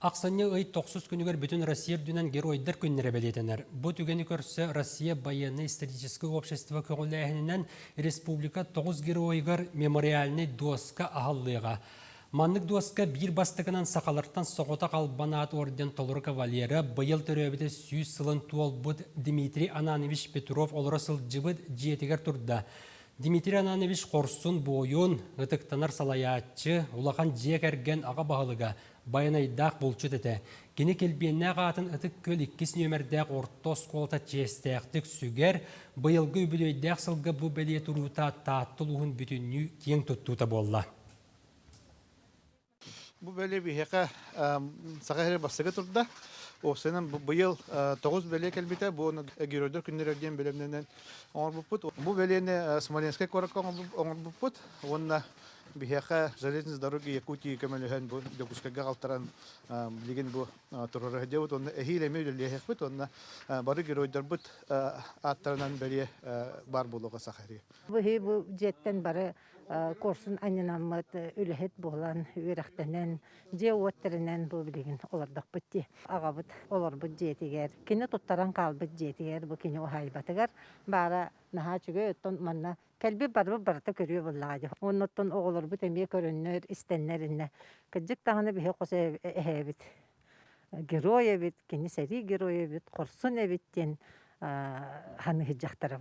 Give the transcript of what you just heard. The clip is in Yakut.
Ахсынньы ый тохсус күнүгэр бүтүн Россия үрдүнэн Геройдар күннэрэ бэлиэтэнэр. Бу түгэни көрсө Россия байыаннай историческай общество көҕүлээһининэн республика тоҕус геройугар мемориальнай дуоска аһыллыаҕа. Маннык дуоска биир бастакынан сахалартан Соҕотох Албанаат орден толору кавалера, быйыл төрөөбүтэ сүүс сылын туолбут Дмитрий Ананович Петров олоро сылдьыбыт дьиэтигэр турда. Дмитрий Ананович хорсун-буойун, ытыктанар салайааччы, улахан дьиэ кэргэн аҕа баһылыга, байанайдаах булчут этэ. Кини Килбиэннээх аатын Ытык Күөл иккис нүөмэрдээх орто оскуолата чиэстээхтик сүгэр, быйылгы үбүлүөйдээх сылга бу бэлиэ туруута Таатта улууһун бүтүннүү киэҥ туттуута буолла. Бу бөлө биһиэхэ Саха сирэ бастакы турда. Осынан быйыл тоҕус бөлө кэлбитэ. Бу оны Геройдар күннэрэ диэн бөлөмнөнөн оҥорбуппут. Бу бөлөнү Смоленскай куоракка оҥорбуппут. Уонна биһиэхэ Железные дороги Якутии көмөлөһөн бу Дьокуускайга халтаран билигин бу турара диэбит уонна эһиил эмиэ үлэлэһиэхпит уонна бары геройдарбыт ааттарынан бэлиэ баар буолуоҕа саха сиригэр. Бу дьиэттэн бары курсун анньынаммыт үлэһит буолан, үөрэхтэнэн, дьиэ-уот тэринэн бу билигин олордохпут дии. Аҕабыт олорбут дьиэтигэр, кини туттаран хаалбыт дьиэтигэр бу кини уһаайбатыгар баара наһаа үчүгэй, оттон манна кэлбит-барбыт барыта көрүө буоллаҕа дии. Оннуттан оҕолорбут эмиэ көрөннөр, истэннэр иннэ. Кырдьык даҕаны биһи хос эһэбит герой эбит, кини сэрии герой эбит, хорсун эбит диэн ханыыһыддьахтара